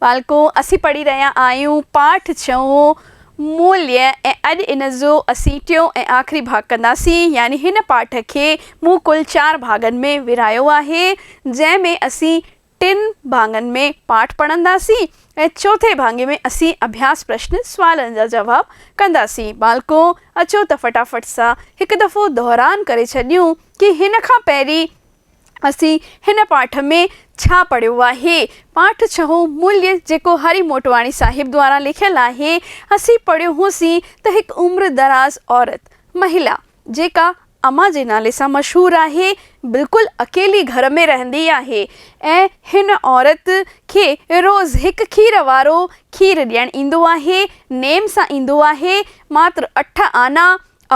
ٻالڪون، اسين پڙهي رهيا آهيون پاٺ ڇهون، موليه، ۽ اڄ ان جو اسين ٽيون ۽ آخري ڀاڳ ڪنداسين، يعني هن پاٺ کي مون ڪل چار ڀاڳن ۾ ورهايو آهي، جنهن ۾ اسين ٽن ڀاڱن ۾ پاٺ پڙهنداسين ۽ چوٿين ڀاڱي ۾ اسين اڀياس پرشن، سوالن جا جواب، ڪنداسين. ٻالڪون، اچو ته فٽافٽ سان هڪ دفعو دهران ڪري ڇڏيون ڪي هن کان پهرين. اسين هن پاٺ ۾ ڇا پڙهيو آهي؟ پاٺ ڇهون مليء جيڪو هري موٽواڻي صاحب دواران لکيل آهي، اسين پڙهيو هوسين ته هڪ عمر دراز عورت، مهيلا، جيڪا اما جي نالي سان مشهور آهي، بلڪل اڪيلي گهر ۾ رهندي آهي ۽ هن عورت کي روز هڪ کير وارو کير ڏيڻ ايندو آهي، نيم سان ايندو آهي، ماتر اٺ آنا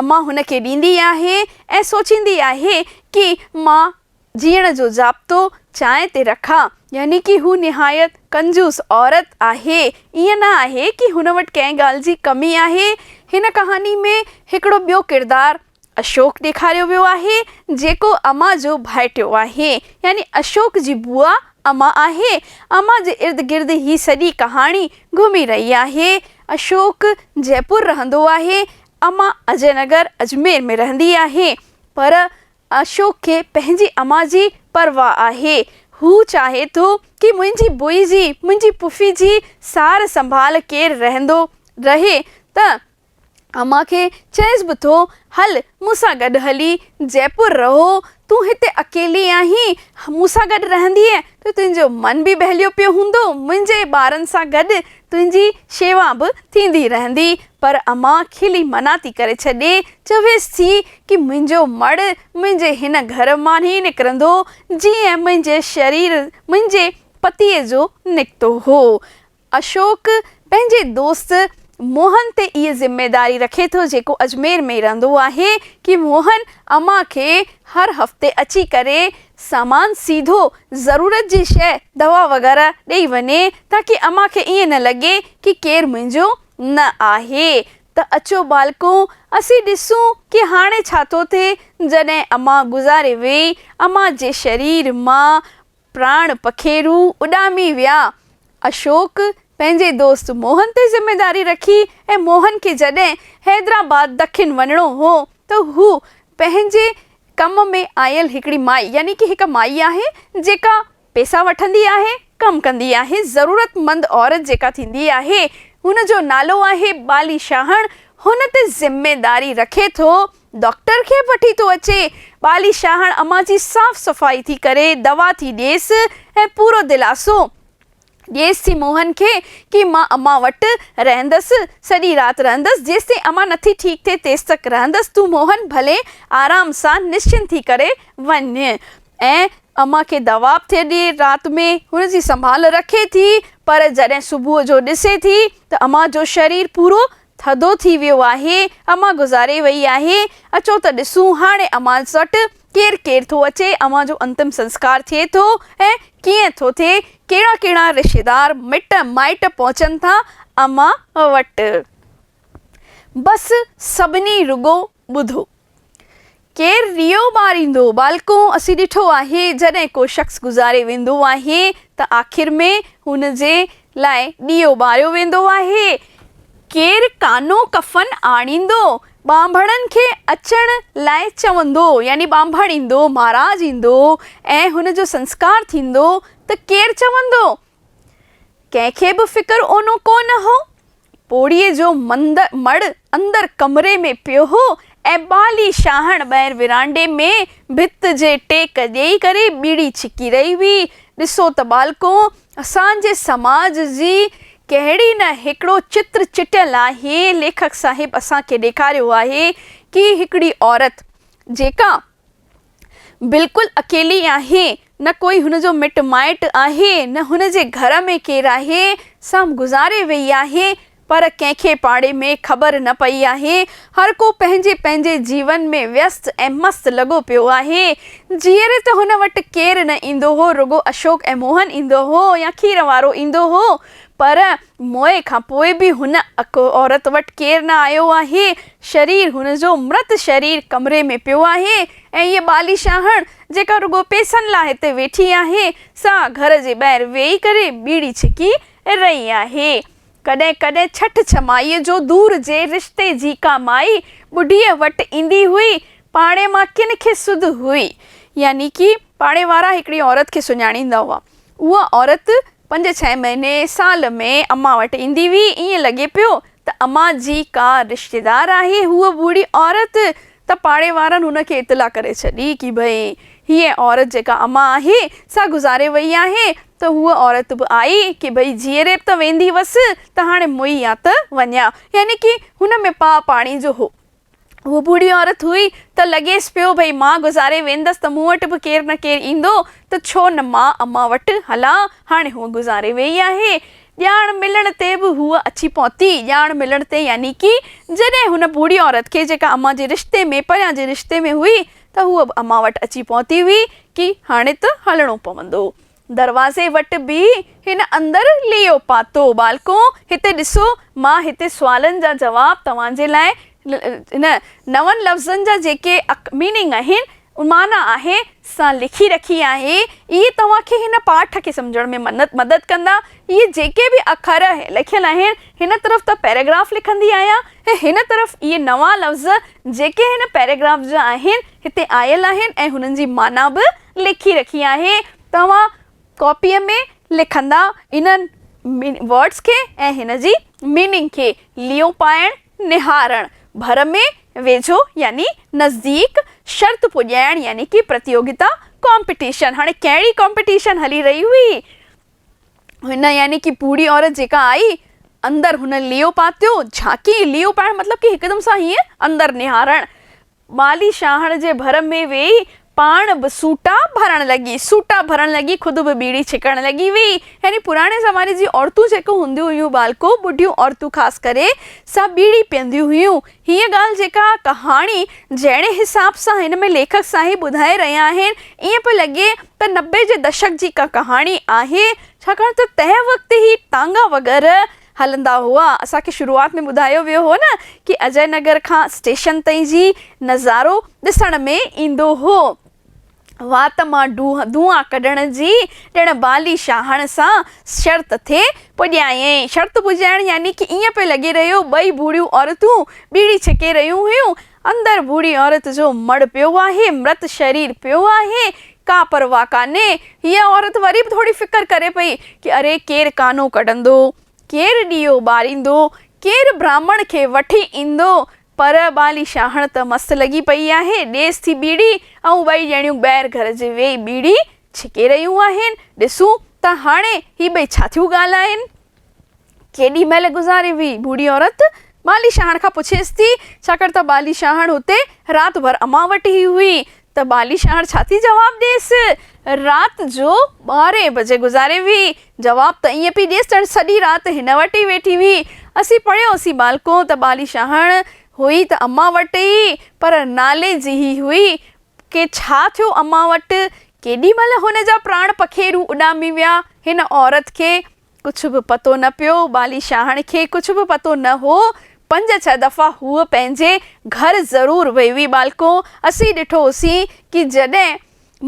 امان هن کي ڏيندي آهي ۽ سوچيندي آهي ڪي مان جيئڻ جو ضابطو چانهه تي رکان. يعني ڪي هو نهايت ڪنجوس عورت آهي. ائين نه آهي ڪي هن وٽ ڪنهن ڳالهه جي ڪمي آهي. هن ڪهاڻي ۾ هڪڙو ٻيو ڪردار اشوڪ ڏيکاريو ويو آهي جيڪو امان جو ڀائٽيو آهي. يعني اشوڪ جي بوا امان آهي. امان جي ارد گرد هي سڄي ڪهاڻي گهمي رهي آهي. اشوڪ جئپور رهندو آهي امان اجي نگر اجمير ۾ رهندي آهي پر اشوڪ کي پنهنجي امان جي پرواهه آهي. هو چاهي ٿو ڪي منهنجي بوئي جي، منهنجي پڦي جي سار سنڀال ڪير رهندو رهي ته امان کي چئيس به ٿو هل مون سان گڏ هلي جئپور رهو تون هتي اڪيلي آهين مون سان گڏ رهندينء ته تنهنجو من به ٻهليو پيو هوندو، منهنجي ٻارن سان گڏ تنهنجي شيوا به ٿيندي رهندي. پر اما کلي منع ٿي ڪري ڇڏي، چويس ٿي ڪي منهنجو مڙهه منهنجي هن گهر مان ئي نڪرندو، جيئن منهنجي شرير منهنجي پتيء جو نڪتو هو. اشوڪ پنهنجي دوست موهن تي اهي ذميداري رکي ٿو جيڪو اجمير ۾ رهندو آهي ڪي موهن اما کي هر هفتي اچي ڪري سامان سيڌو ضرورت جي شيء دوا وغيره ڏئي وڃي تاڪي اما کي ائين نه لڳي ڪي ڪير منهنجو نه آهي ته اچو ٻالڪو اسين ڏسون ڪي هاڻي ڇا ٿو ٿئي جڏهن اما گذاري ويئي اما جي شرير مان پراڻ پکيرو اڏامي ويا. اشوڪ پنهنجي دوست موهن تي ذميواري رکي ۽ موهن کي جڏهن حيدرآباد دکن وڃڻو هو ته هو پنهنجي ڪم ۾ آيل هڪڙي مائي يعني ڪي هڪ مائي آهي جيڪا پيسا وٺندي آهي ڪم ڪندي آهي ضرورت مند عورت جيڪا ٿيندي آهي ان جو نالو آهي بالي شاهڻ هن تي ذميواري رکي ٿو ڊاڪٽر کي به وٺي ٿو اچي. ٻالي شاهڻ امان جي صاف صفائي ٿي ڪري، دوا ٿي ڏيس ۽ پورو دلاسو ڏيس ٿي موهن کي ڪي مان امان وٽ رهندس، سڄي رات رهندس، جيستائين امان نٿي ٺيڪ ٿئي تيستڪ رهندس، تون موهن ڀلي آرام سان نشچنت ٿي ڪري وڃ. ۽ امان کي دوا به ٿي ڏي، رات ۾ هن جي سنڀال رکي ٿي، پر جڏهن صبح جو ڏسي ٿي ته امان جو شرير پورو ٿڌو ٿي ويو آهي. امان گذاري ويئي آهي. اچو ته ڏسون هاڻي امان وٽ ڪير ڪير ٿو اچي، امان جو انتم سنسڪار ٿئي ٿو ۽ ڪيئن ٿو ٿئي، ڪهڙا ڪهڙا رشتيدار، مٽ مائٽ پهچن ٿا امان وٽ. بس سڀني رڳو ٻڌو! ڪير ريو ٻاريندو؟ ٻالڪون! اسين ڏٺو آهي، جڏهن ڪو شخص گذاري ويندو آهي ته آخر ۾ هن جي لاء ڏيئو ٻاريو ويندو آهي. ڪير ڪانو ڪفن آڻيندو؟ ٻانڀڻن کي اچڻ لاء چوندو، يعني ٻانڀڻ ايندو، مهاراج ايندو ۽ هن جو سنسڪار ٿيندو ته ڪير چوندو؟ ڪنهن کي به فڪر اونو ڪو نه هو. پوڙهيء جو مڙهه اندر ڪمري ۾ پيو هو ۽ ٻالي شاهڻ ٻاهر ورانڊي ۾ ڀت جي ٽيڪ ڏيئي ڪري ٻيڙي ڇڪي رهي هئي. ڏسو ته ٻالڪو، اسان جي سماج جي ڪهڙي نه هڪڙو چتر چٽيل آهي. ليکڪ صاحب اسان کي ڏيکاريو آهي ڪي هڪڙي عورت جيڪا. بلڪل اڪيلي آهي، نه ڪوئي هن جو مٽ مائٽ آهي، نه هن جي گهر ۾ ڪير آهي، سا گذاري ويئي آهي، پر ڪنهن کي پاڙي ۾ خبر نه پئي آهي، هر ڪو پنهنجي پنهنجي جيون ۾ ويست ۽ مست لڳو پيو آهي، جيئري ته هن وٽ ڪير نه ايندو هو، رڳو اشوڪ ۽ موهن ايندو هو يا کير وارو ايندو هو، پر موئي کان پوء به هن عورت وٽ ڪير نه آيو آهي، شرير، هن جو مرت شرير ڪمري ۾ پيو آهي ۽ هيء ٻالي شاهڻ، جيڪا رڳو پئسن لاء هتي ويٺي آهي، سا گهر جي ٻاهر ويهي ڪري ٻيڙي ڇڪي رهي آهي. ڪڏهن ڪڏهن ڇٺ ڇمائيء جو دور جي رشتي جي ڪا مائي ٻڍيء وٽ ايندي هئي، پاڙي مان ڪن کي سڌ هئي، يعني ڪي پاڙي وارا هڪڙي عورت کي سڃاڻيندا هئا، اها عورت پنج ڇهه مهيني سال ۾ امان وٽ ايندي هئي، ائين لڳي پيو ته امان جي ڪا رشتيدار آهي، هوء ٻوڙهي عورت ته پاڙي وارن هن کي اطلاع ڪري ڇڏي ڪي ڀئي هيء عورت جيڪا امان آهي سا گذاري وئي آهي ته هوء عورت به آئي ڪي ڀئي جيئري به ته ويندي هئس ته هاڻي موئي يا ته وڃان يعني ڪي هن ۾ پاء پاڻي جو هو. هوء ٻوڙهي عورت هئي ته لڳيس پيو ڀئي مان گذاري ويندس ته مون وٽ به ڪير نه ڪير ايندو ته ڇو نه مان امان وٽ هلان. هاڻي هوء گذاري ويئي آهي. ڄاڻ ملڻ تي به هوء اچي پهتي. ڄاڻ ملڻ تي يعني ڪي جڏهن هن ٻوڙهي عورت کي جيڪا امان جي رشتي ۾ پريان جي رشتي ۾ هئي ته هوء به امان وٽ اچي پهتي هئي ڪي هاڻي ته هلڻو پوندو. دروازي وٽ بيهي هن اندر ليئو پاتو. ٻالڪو! هتي ڏسو، مان هتي سوالن جا جواب توهان جي لاء هن نون لفظن جا جيڪي Meaning آهن، معنيٰ آهي، سا لکي رکي آهي. اهي توهان کي هن پاٺ کي سمجهڻ ۾ مدد ڪندا. اهي جيڪي به اکر لکيل آهن، هن طرف ته پيراگراف لکندي آهيان ۽ هن طرف اهي نوان لفظ جيڪي هن پيراگراف جا آهن، هتي آيل آهن ۽ هنن جي معنيٰ به. لکي رکي آهي توهان ڪاپيء ۾ لکندا انهن ورڊز کي ۽ هن جي ميننگ کي ليئون پائڻ، نهارڻ، ڀر ۾ ويجهو يعني نزديڪ، شرط پڄائڻ يعني ڪي پرتيوگتا، ڪامپيٽيشن، هاڻي ڪهڙي ڪامپيٽيشن هلي رهي هئي؟ هن يعني ڪي پوڙهي عورت جيڪا آئي، اندر هن ليئون پاتيو، جهاڪي، ليئون پائڻ مطلب ڪي هڪدم سان هيئن اندر نهارڻ، ٻالي شاهڻ جي ڀر ۾ ويئي، پاڻ به سوٽا ڀرڻ لڳي. سوٽا ڀرڻ لڳي، خود به ٻيڙي ڇڪڻ لڳي ويئي. يعني پراڻي زماني جي عورتون جيڪو هونديون هيون ٻالڪو، ٻڍيون عورتون خاص ڪري، سا ٻيڙي پيئنديون هيون. هيء ڳالهه جيڪا ڪهاڻي جهڙي حساب سان هن ۾ ليکڪ سائين ٻڌائي رهيا آهن، ائين پئي لڳي ته نبي جي دشڪ جي ڪا ڪهاڻي آهي، ڇاڪاڻ ته تنهن وقت هي ٽانگا وغيره هلندا هئا، اسان کي شروعات ۾ ٻڌايو ويو هو نه ڪي اجئي نگر کان اسٽيشن تائين جي نظارو ڏسڻ ۾ ايندو هو. وات مان دونهان ڪڍڻ جي ڄڻ بالي شاهڻ سان شرط ٿي پڄايائين. شرط پڄائڻ يعني ڪي ائين پئي لڳي رهيو ٻئي ڀوڙيون عورتون ٻيڙي ڇڪي رهيون هيون. اندر ڀوڙي عورت جو مڙ پيو آهي، مرت شرير پيو آهي، ڪا پرواهه ڪانهي. هيء عورت وري به ٿوري فڪر ڪري پئي ڪي اري ڪير ڪانو ڪڍندو، ڪير ڏيئو ٻاريندو، ڪير برهمڻ کي وٺي ايندو. پر ٻالي شاهڻ ته مست لڳي پئي آهي، ڏيس ٿي ٻيڙي ۽ ٻئي ڄڻيون ٻاهر گهر جي ويهي ٻيڙي ڇڪي رهيون آهن. ڏسون ته هاڻي هي ٻئي ڇا ٿيون ڳالهائين. ڪيڏي مهل گذاري هئي؟ ڀوڙي عورت ٻالي شاهڻ کان پڇيس ٿي، ڇاڪاڻ ته ٻالي شاهڻ هتي رات ڀر امان وٽ ئي هئي ته ٻالي شاهڻ ڇا ٿي جواب ڏيس؟ رات جو ٻارهين بجي گذاري هئي. جواب ته ائين پئي ڏيس ڄڻ سڄي رات هن وٽ ئي ويٺي هئي. اسين پڙهيوسين ٻالڪو ته ٻالي شاهڻ هئي ته امان وٽ ئي پر نالي جي ئي هئي. ڪي ڇا ٿيو امان وٽ؟ ڪيڏي مهل هن جا پراڻ پکيرو اڏامي ويا؟ هن عورت کي ڪجهه به پتو نه پيو. ٻالي شاهڻ کي ڪجهه به پتو نه هو. پنج ڇهه دفعا هوء پنهنجي گهر ضرور وئي هئي. ٻالڪو اسين ڏٺو هوسين ڪي جڏهن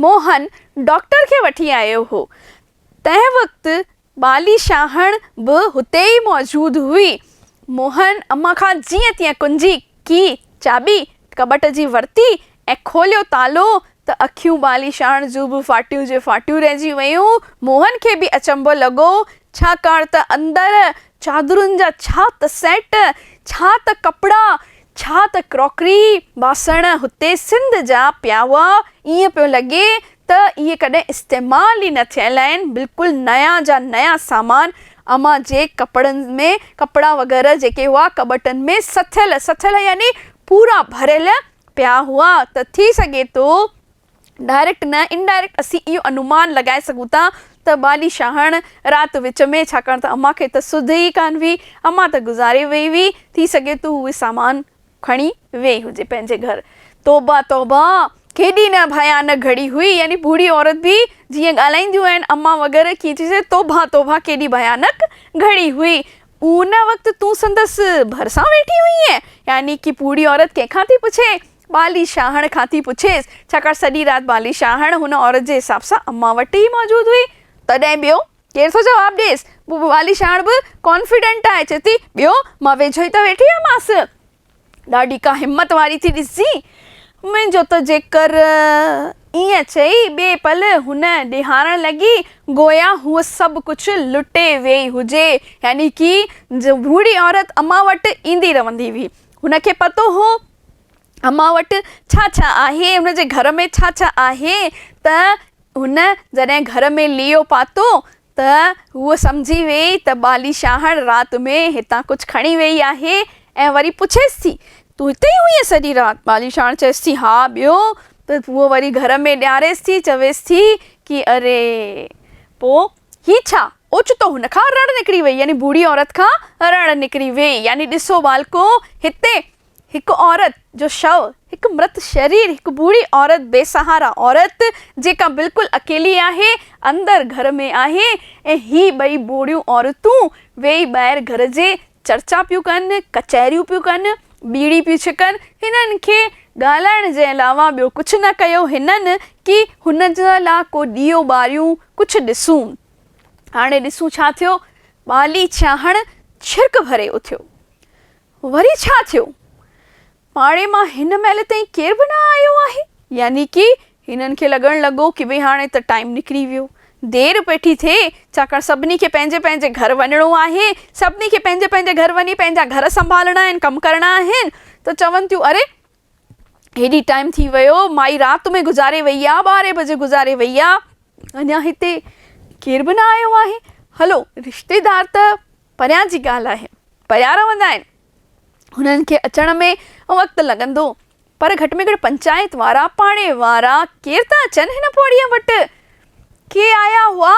موهن ڊاڪٽر کي وٺي آيو هو. تنهن وقت ٻالي شاهڻ به هتي ئي موجود هئي. موهن امان کان جيئن تيئن ڪنجي، Key، چاٻي ڪٻٽ جي ورتي ۽ کوليو تالو ته اکيون ٻالي شاهڻ جون به ڦاٽيون جي ڦاٽيون رهجي ويون. موهن کي به اچنڀو لڳو، ڇاڪاڻ ته اندر چادرن جا ڇا ته سيٽ، ڇا ته ڪپڙا، ڇا ته ڪراڪري، باسڻ، هتي سنڌ جا پيا هئا، ائين پيو لڳي ته اهي ڪڏهن استعمال ئي نه ٿيل آهن، بلڪل نيان جا نيان سامان، امان جي ڪپڙن ۾، ڪپڙا وغيره جيڪي هئا ڪٻٽن ۾ سٿيل، سٿيل يعني پورا ڀريل پيا هئا ته ٿي سگهي ٿو ڊائريڪٽ نه انڊائريڪٽ اسين اهو انومان لڳائي سگهون ٿا ته ٻالي شاهڻ رات وچ ۾ ڇاڪاڻ ته امان کي ته سڌ ئي ڪانه هئي امان ته گذاري وئي هئي ٿي سگهي ٿو هوء سامان کڻي ويئي هجي پنهنجي گهر. توبه توبه! ڪيڏي نه ڀيانڪ گهڙي هئي يعني بوڙهي عورت به جيئن ڳالهائينديون آهن امان وغيره ڪيئن ٿي سگهي توبه توبه ڪيڏي ڀيانڪ گهڙي هئي ان وقت تون سندس ڀرسان ويٺي هئينء، يعني ڪي پوڙهي عورت ڪنهن کان ٿي پڇي؟ ٻالي شاهڻ کان ٿي پڇيس، ڇاڪاڻ سڄي رات ٻالي شاهڻ هن عورت جي حساب سان امان وٽ ئي موجود هئي. تڏهن ٻيو ڪير ٿو جواب ڏيس؟ ٻالي شاهڻ به ڪانفيڊنٽ آهي، چئي ٿي، ٻيو، مان ويجهو ئي ته ويٺي هئمانس. ڏاڍي ڪا همت واري ٿي ڏسجين منهنجو ته جيڪر ائين چئي ٻئي پل هن ڏيهارڻ لڳي گويا هوء سڀ ڪجهه لٽي ويئي هجي يعني ڪي جهوڙي عورت امان وٽ ايندي رهندي هئي هن کي پتو هو امان وٽ ڇا ڇا آهي هن جي گهر ۾ ڇا ڇا آهي ته هن جڏهن گهر ۾ ليئو پاتو ته هوء سمجهي ويئي ته ٻالي شاهڻ رات ۾ هتان ڪجهه کڻي ويئي آهي ۽ وري پڇيس ٿي، تون هتي ئي هئينء سڄي رات؟ ٻالي شاهڻ چيس ٿي، ها ٻيو ته هوء وري گهر ۾ ڏياريس ٿي، چويس ٿي ڪي اري! پوء هي ڇا؟ اوچتو هن کان رڙ نڪري ويئي يعني بوڙهي عورت کان رڙ نڪري ويئي يعني ڏسو ٻالڪو هتي هڪ عورت جو شو، هڪ مرت شرير، هڪ ٻوڙي عورت، بي سهارا عورت جيڪا بلڪل اڪيلي آهي، اندر گهر ۾ آهي ۽ هي ٻئي ٻوڙيون عورتون ويئي ٻاهر گهر جي چرچا پيون ڪن، ڪچهريون پيون ڪن، ٻيڙي پيون ڇڪن، هنن کي ڳالهائڻ جي علاوه ٻيو ڪجهه نه ڪيو هنن ڪي هن جا لا ڪو ڏيئو ٻاريون ڪجهه ڏسون. هاڻي ڏسون ڇا ٿيو، ٻالي ڇاڻ ڇرڪ ڀري اٿيو. وري ڇا ٿيو؟ پاڙي مان هن مهل تائين ڪير به نه آيو آهي. يعني ڪي هنن کي لڳڻ لڳو ڪي ڀي هاڻي ته ٽائيم نڪري ويو. دير ويٺي ٿئي، ڇاڪاڻ سڀني کي پنهنجي پنهنجي گهر وڃڻو آهي. سڀني کي پنهنجي پنهنجي گهر وڃي پنهنجا گهر سنڀالڻا آهن، ڪم ڪرڻا آهن ته چون ٿيون اري! هيڏي ٽائيم ٿي ويو، مائي رات ۾ گذاري وئي آ، ٻارهين بجي گذاري وئي آ، اڃا هتي ڪير به نه آيو آهي، هلو رشتيدار ته پريان جي ڳالهه آهي، پيا رهندا آهن، هنن کي اچڻ ۾ وقت لڳندو، پر گهٽ ۾ گهٽ پنچائت وارا، پاڙي وارا ڪير ته اچن هن پوڙهيء وٽ، ڪي آيا هئا؟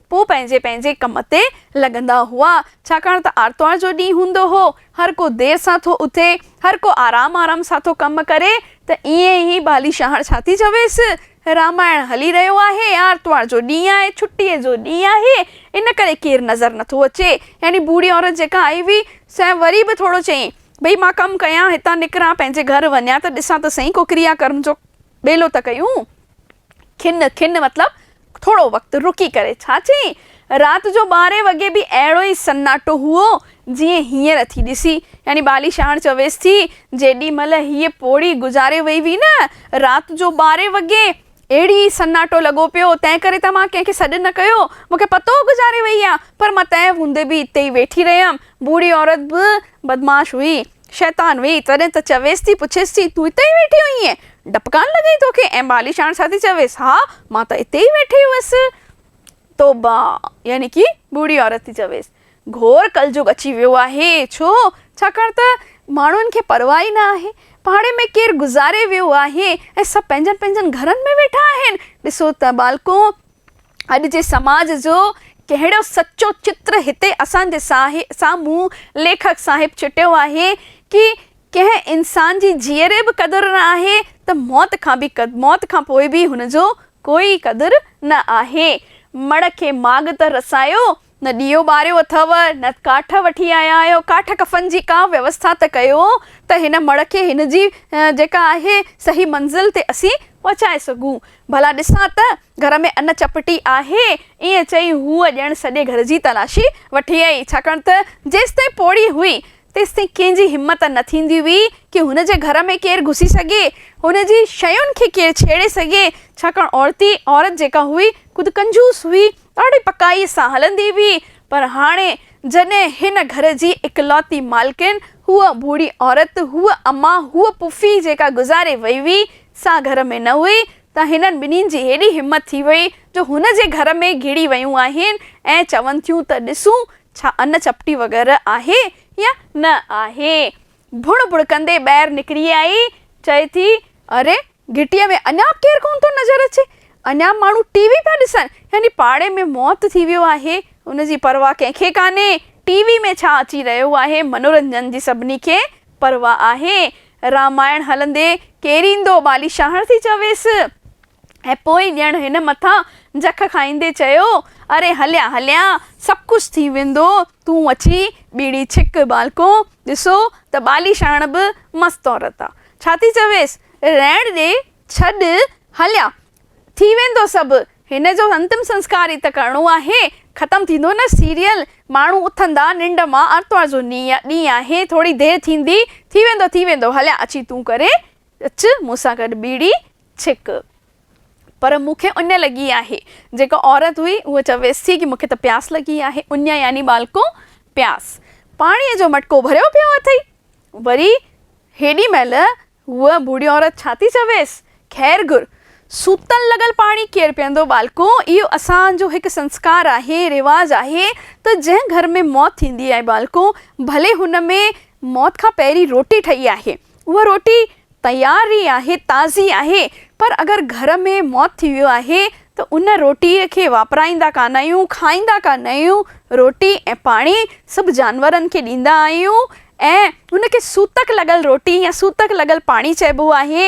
پوء پنهنجي پنهنجي ڪم تي لڳندا هئا، ڇاڪاڻ ته آرتوار جو ڏينهن هوندو هو، هر ڪو دير سان ٿو اٿي، هر ڪو آرام آرام سان ٿو ڪم ڪري، ته ايئن هي بالي شاهڻ ڇا ٿي چويس، رامائڻ هلي رهيو آهي، آرتوار جو ڏينهن آهي، ڇٽيء جو ڏينهن آهي، ان ڪري ڪير نظر نه ٿو اچي. يعني بوڙهي عورت جيڪا آئي هئي، سنئين وري به ٿورو چيائين، ڀئي مان ڪم ڪيان، هتان نڪران، پنهنجي گهر وڃان ته ڏسان ته سهي ڪو ڪريا ڪرم جو ٻيلو ته ڪيون. کن، کن مطلب ٿورو وقت رڪي ڪري. ڇا چئين؟ رات جو ٻارهين وڳي به اهڙو ئي سناٽو هئو، جيئن هينئر ٿي ڏسي. يعني بالي شاهڻ چويس ٿي، جيڏي مهل هيء پوڙهي گذاري وئي هئي نه، رات جو ٻارهين وڳي اهڙي ئي سناٽو لڳو پيو، تنهن ڪري ته مان ڪنهن کي سڏ نه ڪيو. مون کي پتو هو گذاري وئي آ، پر مان تنهن هوندي به اتي ئي ويٺي رهيم. بوڙهي عورت به بدمعاش هئي. شيطان ويئي تڏهن ته چويس ٿي، پڇيس ٿي، تون اتي ئي ويٺي هئينء؟ ڊپ ڪانه لڳئي توکي؟ ۽ ٻالي شاڻ ڇا ٿي چويس، ها، مان ته اتي ئي ويٺي هئس. توبه! يعني ڪي ٻوڙهي عورت ٿي چويس، گهور ڪلجوڳ اچي ويو آهي. ڇو؟ ڇاڪاڻ ته ماڻهن کي پرواهه ئي نه آهي. پاڙي ۾ ڪير گذاري ويو آهي ۽ سڀ پنهنجن پنهنجن گهرن ۾ ويٺا آهن. ڏسو ته ٻالڪو! اڄ جي سماج جو ڪهڙو سچو چتر هتي اسان جي سامهون ليکڪ صاحب چٽيو آهي ڪي ڪنهن انسان جي جيئري به قدر نه آهي ته موت کان به موت کان پوء به هن جو ڪوئي قدر نه آهي مڙهه کي ماڳ ته رسايو نه ڏيئو ٻاريو اٿئو، نه ڪاٺ وٺي آيا آهيو، ڪاٺ ڪفن جي ڪا ويوسٿا ته ڪيو ته هن مڙهه کي هن جي جيڪا آهي صحيح منزل تي اسين پهچائي سگهون. ڀلا ڏسان ته گهر ۾ ان چپٽي آهي؟ ائين چئي هوء ڄڻ سڄي گهر جي تلاشي وٺي آئي، ڇاڪاڻ ته جيستائين پوڙهي هئي، تيستائين ڪنهن جي همت نه ٿيندي هئي ڪي هن جي گهر ۾ ڪير گهسي سگهي، هن جي شين کي ڪير ڇيڙي سگهي، ڇاڪاڻ عورتي عورت جيڪا هئي خود ڪنجوس هئي، ڏاڍي پڪائيء سان هلندي هئي، پر هاڻي جڏهن هن گهر جي اڪلوتي مالڪن، هوء ڀوڙي عورت، هوء اما، هوء پڦي جيڪا گذاري وئي هئي، سا گهر ۾ نه هئي، ته هنن ٻنهين جي هيڏي همت ٿي وئي، جو هن جي گهر ۾ گهڙي ويون آهن ۽ چون ٿيون ته ڏسون، ڇا ان چپٽي وغيره آهي يا نه آهي. ڀڻ ڀڻڪندي ٻاهر نڪري آئي، چئي ٿي، اري! گهٽيء ۾ اڃا به ڪير ڪونه ٿو نظر اچي، اڃا به ماڻهو ٽي وي پيا ڏسن، يعني پاڙي ۾ موت ٿي ويو آهي، ان جي پرواهه ڪنهن کي ڪانهي، ٽي وي ۾ ڇا اچي رهيو آهي، منورنجن جي سڀني کي پرواهه آهي، رامائڻ هلندي ڪير ايندو، ٻالي شاهڻ ٿي چويس، ۽ پوء ڄڻ هن مٿان جک کائيندي چيو، اري هليان هليان، سڀ ڪجهه ٿي ويندو، تون اچي ٻيڙي ڇڪ، ٻالڪو! ڏسو ته ٻالي شاهڻ به مست عورت آ. ڇا ٿي چويس، رهڻ ڏي، ڇڏ، هليا، ٿي ويندو سڀ، هن جو انتم سنسڪار ئي ته ڪرڻو آهي، ختم ٿيندو نه سيريل، ماڻهو اٿندا ننڊ مان، آرتوار جو ڏينهن آهي، ٿوري دير ٿيندي، ٿي ويندو، ٿي ويندو، هليا، اچي تون ڪري اچ مون سان گڏ ٻيڙي ڇڪ. پر مون کي اڃ لڳي آهي. جيڪا عورت هئي، اها چويس ٿي ڪي مون کي ته پياس لڳي آهي، اڃ يعني ٻالڪو پياس. پاڻيء جو مٽڪو ڀريو پيو اٿئي. وري هيڏي مهل هوء بوڙهي عورت ڇا ٿي چويس؟ خير گهر، سوتل لڳل پاڻي ڪير پيئندو؟ ٻالڪو، اهو اسان جو هڪ سنسڪار آهي، رواج آهي ته جنهن گهر ۾ موت ٿيندي آهي ٻالڪو، ڀلي هن ۾ موت کان پهرين روٽي ٺهي آهي، اها روٽي تياري آهي تازي آهي پر اگر گهر ۾ موت ٿي ويو آهي ته ان روٽي کي واپرائيندا ڪانه آهيون کائيندا ڪانه آهيون روٽي ۽ پاڻي سڀ جانورن کي ڏيندا آهيون ۽ ان کي سوتڪ لڳل روٽي يا سوتڪ لڳل پاڻي چئبو آهي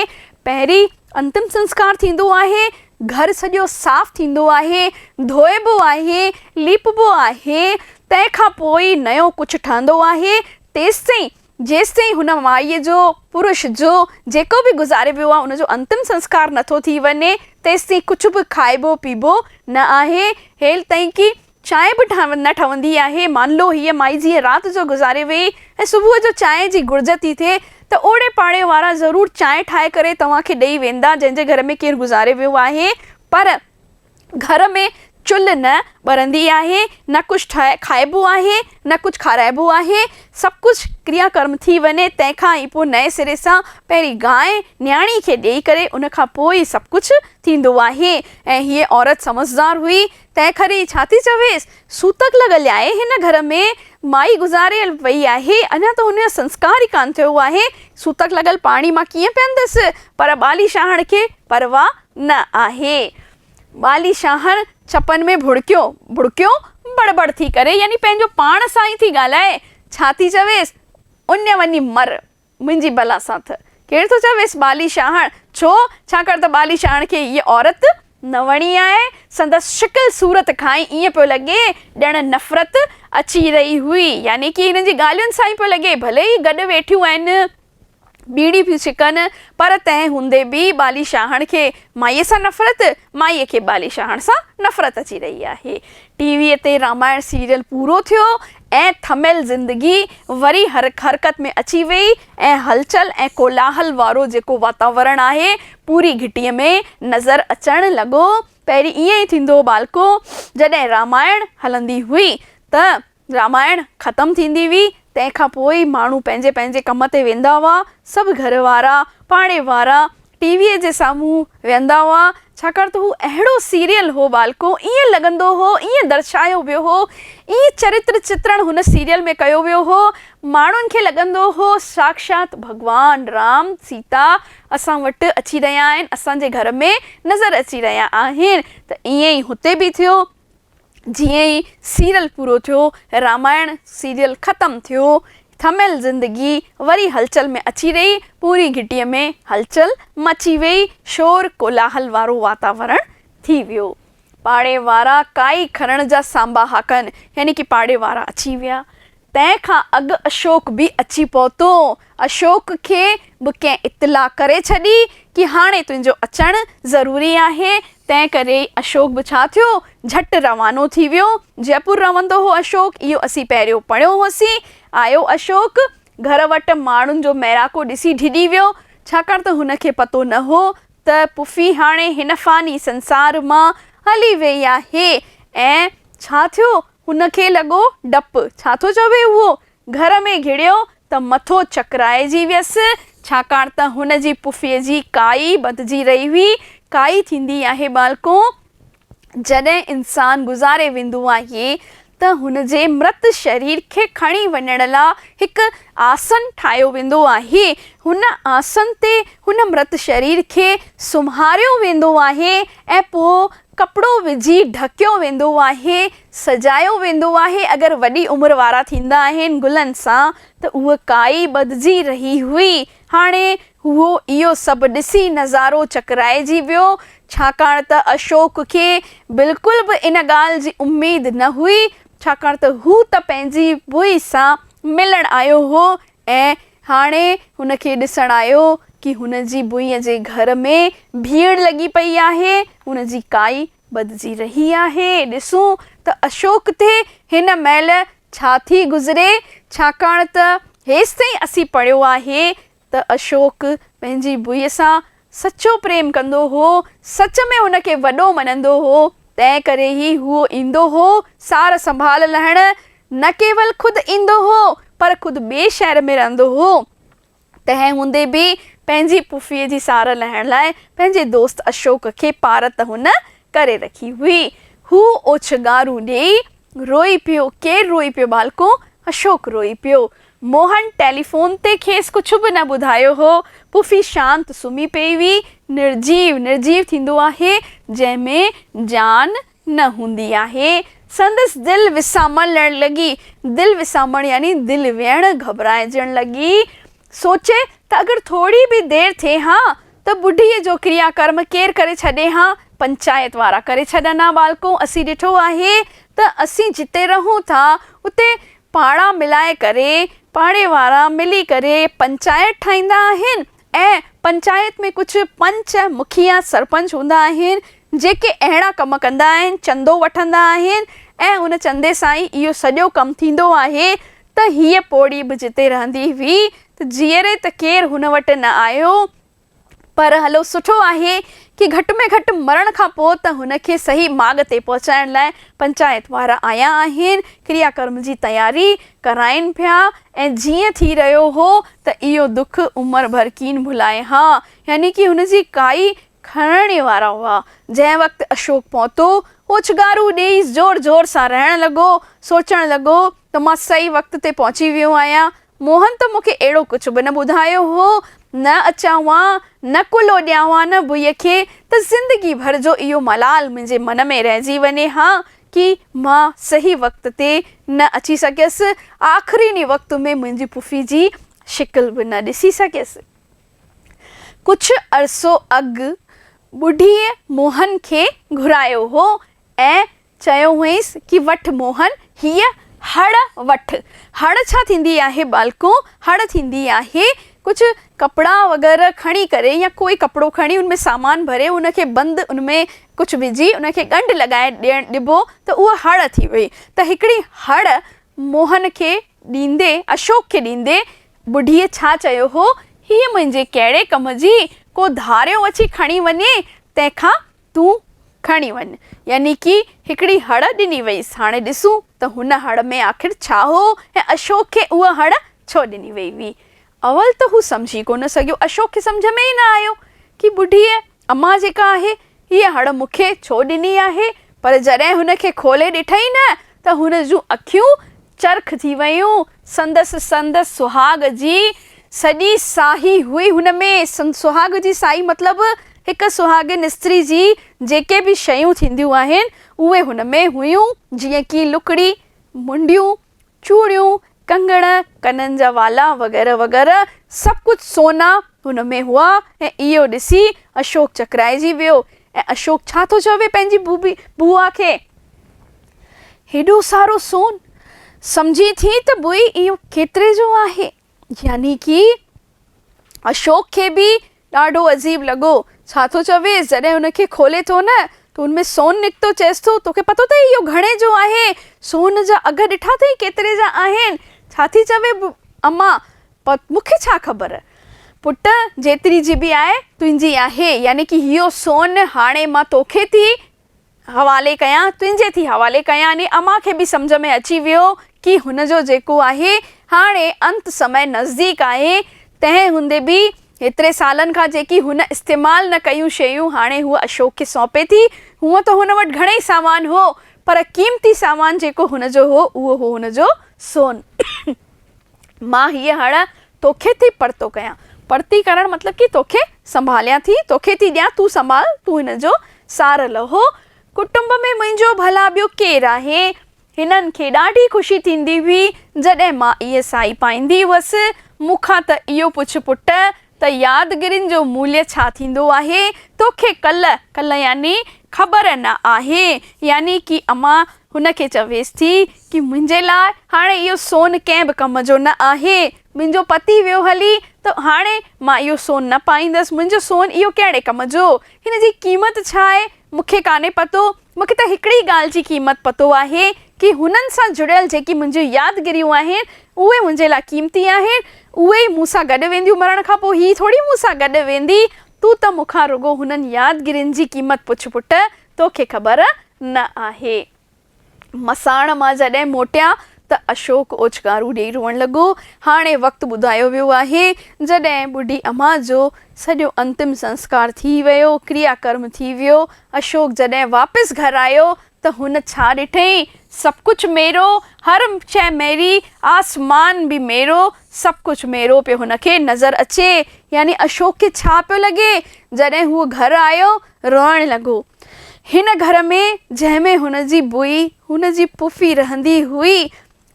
پهرين انتم سنسڪار ٿيندو آهي گهر سڄو صاف ٿيندو آهي ڌوئبو آهي ليپبو آهي تنهن کان پوء ئي نيو ڪجهه ٺهندو آهي تيستائين جيستائين هن مائيء جو، پرش جو، جيڪو به گذاري ويو آهي، ان جو انتم سنسڪار نه ٿو ٿي وڃي، تيستائين ڪجهه به کائبو پيئبو نه آهي. هيلتائين ڪي چانهه به نه ٺهندي آهي. مانلو هيء مائي جيئن رات جو گذاري ويئي ۽ صبح جو چانهه جي گهرج ٿي ٿئي ته اوڙي پاڙي وارا ضرور چانهه ٺاهي ڪري توهان کي ڏيئي ويندا، جنهن جي گهر ۾ ڪير گذاري ويو آهي. پر. گهر ۾ چلهه نه ٻرندي آهي، نه ڪجهه ٺاهي کائبو آهي، نه ڪجهه کارائبو آهي، سڀ ڪجهه ڪريا ڪرم ٿي وڃي، تنهن کان ئي پوء نئين سري سان پهرين گانء نياڻي کي ڏيئي ڪري ان کان پوء ئي سڀ ڪجهه ٿيندو آهي. ۽ هيء عورت سمجهدار هئي، تنهن ڪري ڇا ٿي چويس، سوتڪ لڳل آهي، هن گهر ۾ مائي گذاريل پئي آهي، اڃا ته هن جو سنسڪار ئي ڪانه ٿيو آهي، سوتڪ لڳل پاڻي مان ڪيئن پيئندس، پر ٻالي شاهڻ کي پرواهه نه آهي. ٻالي شاهڻ چپن ۾ ڀڙڪيو ڀڙڪيو بڙ بڙ ٿي ڪري يعني پنهنجو پاڻ سان ئي ٿي ڳالهائي. ڇا ٿي چويس؟ اڃ وڃي مر منهنجي بلا سان تھ ڪير ٿو چويس ٻالي شاهڻ؟ ڇو؟ ڇاڪاڻ تھ ٻالي شاهڻ کي اها عورت نه وڻي آهي. سندس شڪل صورت کان ئي ائين پيو لڳي ڄڻ نفرت اچي رهي هئي يعني ڪي هنن جي ڳالهين سان ئي پيو لڳي ڀلي هي گڏ ويٺيون آهن. ٻيڙي ٿيون ڇڪن، پر تنهن هوندي به ٻالي شاهڻ کي مائيء سان نفرت، مائيء کي ٻالي شاهڻ سان نفرت اچي رهي آهي. ٽي ويء تي رامائڻ سيريل پورو ٿيو ۽ ٿميل زندگي وري حرڪت ۾ اچي ويئي ۽ هلچل ۽ ڪولاهل وارو جيڪو واتاورڻ آهي، پوري گهٽيء ۾ نظر اچڻ لڳو. پهرين ائين ئي ٿيندو هو ٻالڪو! جڏهن رامائڻ هلندي هئي ته. رامائڻ ختم ٿيندي هئي، تنهن کان پوء ئي ماڻهو پنهنجي پنهنجي ڪم تي ويندا هئا. سڀ گهر وارا، پاڙي وارا ٽي ويء جي سامهون ويهندا هئا، ڇاڪاڻ ته هو اهڙو سيريل هو ٻالڪو، ائين لڳندو هو، ائين درشايو ويو هو، ائين چرتر چترڻ هن سيريل ۾ ڪيو ويو هو، ماڻهن کي لڳندو هو ساکشات ڀڳوان رام، سيتا اسان وٽ اچي رهيا آهن، اسان جي گهر ۾ نظر اچي رهيا آهن، ته ائين ئي هتي به ٿيو. جيئن ئي سيريل پورو ٿيو، رامائڻ سيريل ختم ٿيو، ٿميل زندگي وري هلچل ۾ اچي رهي، پوري گهٽيء ۾ هلچل مچي ويئي، شور ڪولاهل وارو واتاورڻ ٿي ويو. پاڙي وارا ڪائي کرڻ جا سانباهاڪن يعني ڪي پاڙي وارا اچي ويا. تنهن کان اڳ اشوڪ به اچي پهتو. اشوڪ کي به ڪنهن اطلاع ڪري ڇڏي ڪي هاڻي تنهنجو اچڻ ضروري آهي، تنهن ڪري ئي اشوڪ به ڇا ٿيو جهٽ روانو ٿي ويو. جئپور رهندو هو اشوڪ، اهو اسين پهريون پڙهيو هوسين. آيو اشوڪ گهر وٽ ماڻهن جو ميڙاڪو ڏسي ڊڄي ويو، ڇاڪاڻ ته هن کي پتو نه هو ته پڦي هاڻي هن فاني سنسار مان هلي ويئي آهي ۽ ڇا ٿيو هن کي لڳو ڊپ. ڇا ٿو چوي اهو؟ گهر ۾ گهڙيو ته مٿو چڪرائجي ويس، ڇاڪاڻ ته هن جي پڦيء جي ڪائي ٻڌجي رهي هئي. ڪائي ٿيندي آهي ٻالڪو، جڏهن انسان گذاري ويندو آهي ته هن جي مرت شرير کي کڻي وڃڻ لا هڪ آسن ٺاهيو ويندو آهي. هن آسن تي هن مرت شرير کي سمهاريو ويندو آهي ۽ پوء ڪپڙو وجهي ڍڪيو ويندو آهي، سجايو ويندو آهي، اگر وڏي عمر وارا ٿيندا آهن گلن سان ته هوء ڪائي ٻڌجي رهي هئي، هاڻي هو اهو سڀ ڏسي نظارو چڪرائجي ويو، ڇاڪاڻ ته اشوڪ کي بلڪل به ان ڳالهه جي اميد نه هئي، ڇاڪاڻ ته هو ته پنهنجي ڀوئي سان ملڻ آيو هو، ۽ هاڻي هن کي ڏسڻ آيو ڪي هن جي ڀوئي جي گهر ۾ ڀيڙ لڳي پئي آهي، هن جي ڪائي ٻڌجي رهي آهي، ڏسون ته اشوڪ تي هن مهل ڇا ٿي گذري، ڇاڪاڻ ته هيستائين اسين پڙهيو آهي ته اشوڪ پنهنجي ڀوئي سان سچو پريم ڪندو هو، سچ ۾ هن کي وڏو مڃندو هو، تنهن ڪري ئي هو ايندو هو سار سنڀال لهڻ، نه ڪيول خود ايندو هو، پر خود ٻئي شهر ۾ رهندو هو، تنهن هوندي به پنهنجي پڦيء جي سار لهڻ لاء پنهنجي دوست اشوڪ کي پارت هن ڪري رکي هئي، هو اوڇنگارون ڏيئي روئي پيو، ڪير روئي پيو ٻالڪو؟ اشوڪ روئي پيو. موهن ٽيليفون تي کيس ڪجهه به نه ٻڌايو هو. پڦي شانت سمهي پئي هئي. نرجيو، نرجيو ٿيندو آهي، جنهن ۾ جان نه هوندي آهي. سندس دل وسامڻ لڙڻ لڳي. دل وسامڻ يعني دل ويڻ گهٻرائجڻ لڳي. سوچي ته اگر ٿوري به دير ٿئي ها ته ٻڍيء جو ڪريا ڪرم ڪير ڪري ڇڏي ها؟ پنچائت وارا ڪري ڇڏن ها ٻالڪو! اسين ڏٺو آهي ته اسين جتي رهون ٿا اتي پاڙا ملائي ڪري، پاڙي وارا ملي ڪري پنچائت ٺاهيندا آهن ۽ پنچائت ۾ ڪجهه پنچ، مکيا، سرپنچ هوندا آهن جيڪي اهڙا ڪم ڪندا آهن، چندو وٺندا آهن ۽ ان چندي سان ئي اهو سڄو ڪم ٿيندو آهي ته هيء پوڙهي به جتي رهندي هئي ته جيئري ته ڪير هن وٽ نه آيو. پر هلو سٺو آهي ڪي گهٽ ۾ گهٽ مرڻ کان پوء ته هن کي صحيح ماڳ تي پهچائڻ لاء پنچائت وارا آيا آهن، ڪريا ڪرم جي تياري ڪرائين پيا ۽ جيئن ٿي رهيو هو ته اهو دک عمر ڀر ڪين ڀلائين ها. يعني ڪي هن جي ڪائي کڻڻ ئي وارا هئا. جنهن وقت اشوڪ پهتو، اوڇنگارو ڏيئي زور زور سان رئڻ لڳو. سوچڻ لڳو ته مان صحيح وقت تي پهچي ويو آهيان. موهن ته مون کي اهڙو ڪجهه به نه ٻڌايو هو. نه اچان هان، نه ڪلهو ڏيان هان نه ڀئي کي ته زندگي ڀر جو اهو ملال منهنجي من ۾ رهجي وڃي ها ڪي مان صحيح وقت تي نه اچي سگهيس، آخرين ئي وقت ۾ منهنجي پڦي جي شڪل به نه ڏسي سگهيس. ڪجهه عرصو اڳ ٻڍيء موهن کي گهرايو هو ۽ چيو هئينس ڪي وٺ موهن هيء هڙ وٺ. هڙ ڇا ٿيندي آهي ٻالڪو؟ هڙ ٿيندي آهي ڪجهه ڪپڙا وغيره کڻي ڪري يا ڪوئي ڪپڙو کڻي ان ۾ سامان ڀري ان کي بند ان ۾ ڪجهه وجهي ان کي ڳنڍ لڳائي ڏيڻ ڏبو ته اهو هڙ ٿي وئي. ته هڪڙي هڙ موهن کي ڏيندي اشوڪ کي ڏيندي ٻڍيء ڇا چيو هو؟ هيء منهنجي ڪهڙي ڪم جي ڪو ڌاريو اچي کڻي وڃي، تنهن کان تون کڻي وڃ. يعني ڪي هڪڙي هڙ ڏني ويئيس. هاڻي ڏسون ته هن هڙ ۾ آخر ڇا هو ۽ اشوڪ کي اها هڙ ڇو ڏني ويئي هئي. اول ته هو سمجهي ڪونه سگهيو، اشوڪ کي سمجهه ۾ ئي نه آيو ڪي ٻڍيء، امان جيڪا آهي، هيء هڙ مون کي ڇو ڏني آهي؟ پر جڏهن هن کي کولي ڏٺئي نه ته هن جون اکيون چرخ ٿي ويون. سندس سندس سهاڳ جي سڄي ساهي هئي هن ۾. سهاڳ جي ساهي مطلب هڪ سهاڳين استري جي جيڪي به شيون ٿينديون آهن، اهي هن ۾ هيون، جيئن ڪي لڪڙي، منڊيون، چوڙيون، ڪنگڻ، ڪنن جا والا وغيره وغيره سڀ ڪجهه سونا هن ۾ هئا ۽ اهو ڏسي اشوڪ چڪرائجي ويو ۽ اشوڪ ڇا ٿو چوي پنهنجي بوآ کي. هيڏو سارو سون! سمجهين ٿي ته بوي اهو ڪيتري جو آهي؟ يعني ڪي اشوڪ کي به ڏاڍو عجيب لڳو. ڇا ٿو چويس؟ جڏهن ان کي کولي ٿو نه ته ان ۾ سون نڪتو. چيس ٿو، توکي پتو اٿئي اهو گهڻي جو آهي؟ سون جا اگهه ڏٺا اٿئي ڪيتري جا آهن؟ ڇا ٿي چوي اما؟ پر مون کي ڇا خبر پٽ، جيتري جي به آهي تنهنجي آهي. يعني ڪي اهو سون هاڻي مان توکي ٿي حوالي ڪيان، تنهنجي ٿي حوالي ڪيان يعني امان کي به سمجهه ۾ اچي ويو ڪي هن جو جيڪو آهي هاڻي انت سمي نزديڪ آهي تنهن هوندي به هيتري سالن کان جيڪي هن استعمال نه ڪيون شيون هاڻي هوء اشوڪ کي سونپي ٿي هونء ته هن وٽ گهڻئي سامان هو پر قيمتي سامان جيڪو هن جو هو اهو هو هن جو سون مان هيء هڻ توکي ٿي پرتو ڪيان. پرتي ڪرڻ مطلب ڪي توکي سنڀاليان ٿي، توکي ٿي ڏيان، تون سنڀال، تون هن جو سار لهو. ڪٽنب ۾ منهنجو ڀلا ٻيو ڪير آهي؟ هنن کي ڏاڍي خوشي ٿيندي هئي، جڏهن مان اهي سائي پائيندي هئس. مون کان ته اهو پڇ پٽ، ته يادگرين جو موليه ڇا ٿيندو آهي؟ توکي ڪل، ڪل يعني خبر نه آهي. يعني ڪي اما هن کي چويس ٿي ڪي منهنجي لاء هاڻي اهو سون ڪنهن به ڪم جو نه آهي. منهنجو پتي ويو هلي ته هاڻي مان اهو سون نه پائيندس. منهنجو سون اهو ڪهڙي ڪم جو؟ هن جي قيمت ڇا آهي؟ مونکي ڪانهي پتو. مون کي ته هڪڙي ڳالهه جي قيمت پتو آهي ڪي هنن سان جڙيل جيڪي منهنجيون يادگريون آهن اهي منهنجي لاء قيمتي آهن اهي ئي مون سان گڏ وينديون مرڻ کان پوء هي ٿوري مون سان گڏ ويندي تون ته مون کان رڳو هنن يادگرين جي قيمت پڇ پٽ توکي خبر نه آهي. مساڻ مان جڏهن موٽيا ته اشوڪ اوڇنگارو ڏيئي روئڻ لڳو. هاڻي وقت ٻڌايو ويو آهي، جڏهن ٻڍي اما جو سڄو انتم سنسڪار ٿي ويو، ڪريا ڪرم ٿي ويو. اشوڪ جڏهن واپس گهر آيو ته هن ڇا ڏٺئي؟ سڀ ڪجهه ميرو، هر شيء ميري، آسمان به ميرو، سڀ ڪجهه ميرو پيو هن کي نظر اچي. يعني اشوڪ کي ڇا پيو لڳي؟ جڏهن هو گهر آيو، روئڻ لڳو. هن گهر ۾ جنهن ۾ هن جي بوئي، هن جي پڦي رهندي هئي،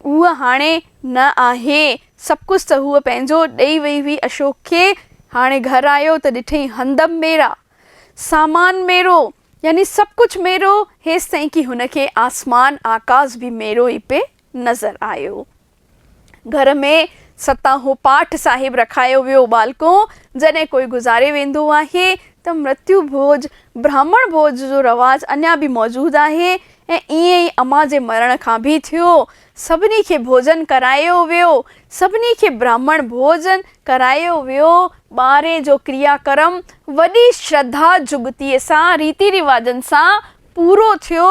هوء هاڻي نه آهي. سڀ ڪجهه ته هوء پنهنجو ڏئي وئي هئي اشوڪ کي. هاڻي گهر آيو ته ڏٺئي هندم ميرا. سامان ميرو، يعني سڀ ڪجهه ميرو، هيستائين ڪي هن کي آسمان، آڪاس، به ميرو ئي پئي نظر آيو. گهر ۾ ستاهون پاٺ صاحب رکايو ويو ٻالڪو، جڏهن ڪوئي گذاري ويندو آهي ته مرتيو ڀوڄ، برهمڻ ڀوڄ جو رواج اڃا به موجود آهي ۽ ائين ئي امان جي مرڻ کان به ٿيو. سڀني کي ڀوڄن ڪرايو ويو. سڀني کي برهمڻ ڀوڄ ڪرايو ويو. ٻاري جو ڪريا ڪرم وڏي شرڌا جڳتيء سان، ريتي رواجن سان پورو ٿيو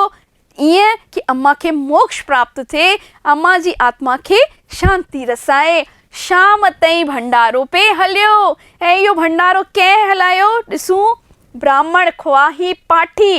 ايئن ڪي اما کي موڪش پراپت ٿئي، اما جي آتما کي شانتي رسائي. شام تائين ڀنڊارو پئي هليو ۽ اهو ڀنڊارو ڪنهن هلايو؟ ڏسون، براهمڻ، خواهي پاٺي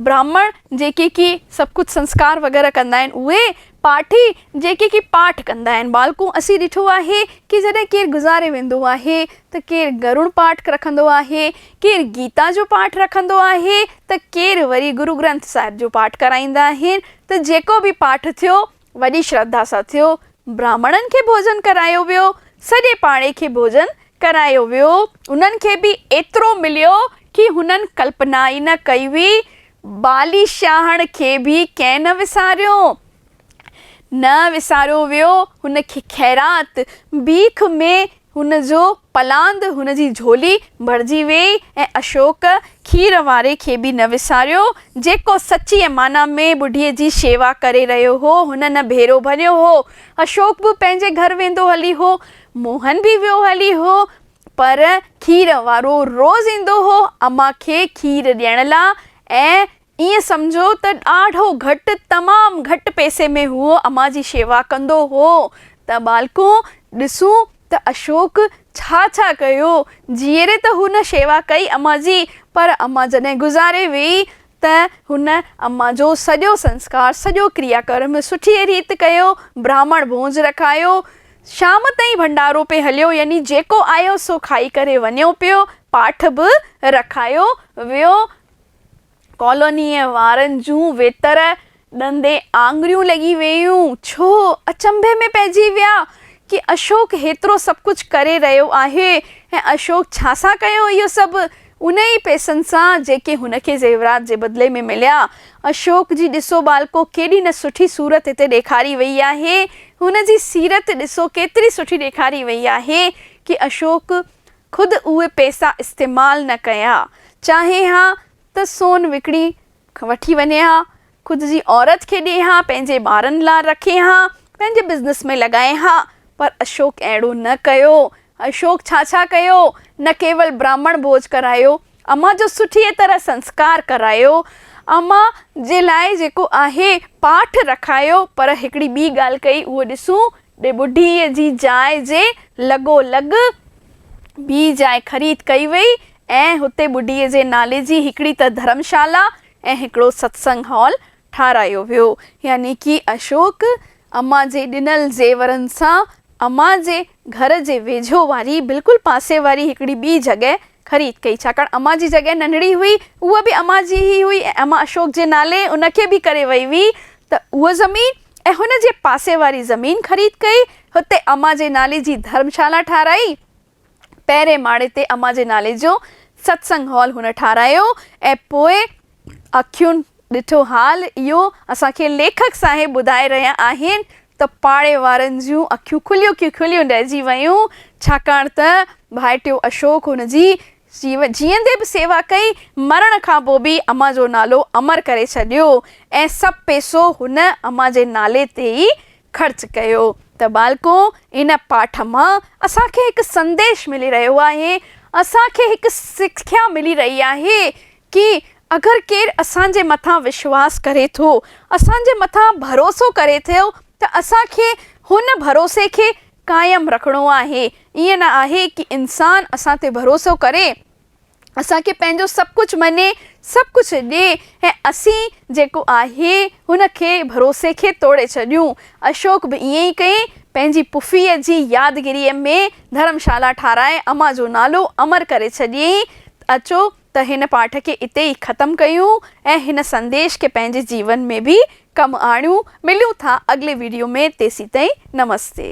براهمڻ جيڪي ڪي سڀ ڪجهه سنسڪار وغيره ڪندا آهن اهي، پاٺي جيڪي ڪي پاٺ ڪندا آهن ٻالڪون اسين ڏٺو آهي ڪي جڏهن ڪير گذاري ويندو آهي ته ڪير گرون پاٺ رکندو آهي ڪير گيتا جو پاٺ رکندو آهي ته ڪير وري گرو گرنٿ صاحب جو پاٺ ڪرائيندا آهن ته جيڪو به پاٺ ٿيو وڏي شرڌا سان ٿيو براهمڻن کي ڀوڄن ڪرايو ويو سڄي پاڙي کي ڀوڄن ڪرايو ويو انهن کي به ايترو مليو ڪي هنن ڪلپنا ئي نه ڪئي هئي بالي شاهڻ کي به ڪنهن نه وساريو. نه وساريو ويو هن کي خيرات، بيک ۾ هن جو پلاند، هن جي جهولي ڀرجي ويئي ۽ اشوڪ کير واري کي به نه وساريو، جيڪو سچيء معنيٰ ۾ ٻڍيء جي شيوا ڪري رهيو هو، هن نه ڀيرو ڀريو هو. اشوڪ به پنهنجي گهر ويندو هلي هو. موهن به ويو هلي هو. پر کير وارو روز ايندو هو امان کي کير ڏيڻ لا۽ ائين سمجهو ته ڏاڍو گهٽ تمام گهٽ پئسي ۾ هو امان جي شيوا ڪندو هو ته ٻالڪو ڏسون ته اشوڪ ڇا ڇا ڪيو جيئري ته هن شيوا ڪئي امان جي پر امان جڏهن گذاري ويئي ته هن اما جو سڄو سنسڪار، سڄو ڪريا ڪرم سٺيء ريت ڪيو، براهمڻ ڀونج رکايو، شام تائين ڀنڊارو پئي هليو، يعني جيڪو آيو سو کائي ڪري وڃيو پيو، پاٺ به رکايو ويو، ڪالونيء وارن جون ويتر ڏندي آڱريون لڳي ويون. ڇو اچنڀي ۾ پئجي ويا ڪي اشوڪ هيترو سڀ ڪجهه ڪري رهيو آهي ۽ اشوڪ ڇا سان ڪيو اهو سڀ؟ انهي پئسن سان جيڪي هن کي زيورات جي بدلي ۾ مليا. اشوڪ جي ڏسو ٻالڪو ڪيڏي نه سٺي صورت هتي ڏيکاري وئي آهي. هن جي سيرت ڏسو ڪيتري سٺي ڏيکاري وئي آهي ڪي اشوڪ خود اهي پئسا استعمال نه ڪيا چاهي ها ته سون وڪڻي وٺي وڃي ها، خود جي عورت کي ڏئي ها، پنهنجي ٻارن لا رکي ها، پنهنجي بزنس ۾ لڳائي ها، پر اشوڪ اهڙو نه ڪيو. اشوڪ ڇا ڇا ڪيو، نه ڪيول براهمڻ ڀوڄ ڪرايو، امان جو سٺيء طرح سنسڪار ڪرايو، امان جي لاء جيڪو آهي پاٺ رکايو، پر هڪڙي ٻي ڳالهه ڪئي اهو ڏسون ڏي ٻڍيء جي جاء جي لڳو لڳ ٻي جاء خريد ڪئي وئي ۽ هتي ٻڍيء جي نالي جي هڪڙي ته ڌرمشالا ۽ هڪڙو ستسنگ هال ٺاهرايو ويو. يعني ڪي اشوڪ امان جي ڏنل زيورن سان امان جي گهر جي ويجهو واري بلڪل پاسي واري هڪڙي ٻي جڳهه خريد ڪئي، ڇاڪاڻ امان جي جڳهه ننڍڙي هئي، اها به امان جي ئي هئي ۽ امان اشوڪ جي نالي ان کي به ڪري وئي هئي ته اها زمين ۽ هن جي پاسي واري زمين خريد ڪئي، هتي امان جي نالي جي ڌرم شالا ٺاهرائي، پهرين ماڙي تي امان جي نالي جو ستسنگ هال هن ٺاهرايو ۽ پوء اکيون ڏٺو حال اهو اسان کي ليکڪ صاحب ٻڌائي رهيا آهن ته پاڙي وارن جون اکيون کليون ڪي کليون رهجي ويون ڇاڪاڻ ته ڀائٽيو اشوڪ هن جي جيئندي به سيوا ڪئي مرڻ کان پوء به امان جو نالو امر ڪري ڇڏيو ۽ سڀ پئسو هن امان جي نالي تي ئي خرچ ڪيو ته ٻالڪو ان پاٺ مان اسان کي هڪ سنديش ملي رهيو آهي اسان کي هڪ سکيا ملي رهي آهي ڪي اگر ڪير اسان جي مٿان وشواس ڪري ٿو، اسان جي مٿان ڀروسو ڪري ٿو ته اسان کي هن ڀروسي کي قائم رکڻو آهي. ائين نه آهي ڪي انسان اسان تي ڀروسو ڪري، اسان کي پنهنجو سڀ ڪجهه مڃي، سڀ ڪجهه ڏي ۽ اسين جيڪو آهي هن کي ڀروسي کي ٽوڙي ڇڏيون. اشوڪ به ائين ئي ڪئي، پنهنجي پڦيء جي يادگيريء ۾ ڌرمشالا ٺاهرائي امان جو نالو امر ڪري ڇڏيائين ته اچو ته هن پاٺ کي اتي ئي ختم ڪيون ۽ هن سنديش کي پنهنجي جيون ۾ به ڪم آڻيون مليون ٿا اڳلي ويڊيو ۾ تيسين تائين نمستي.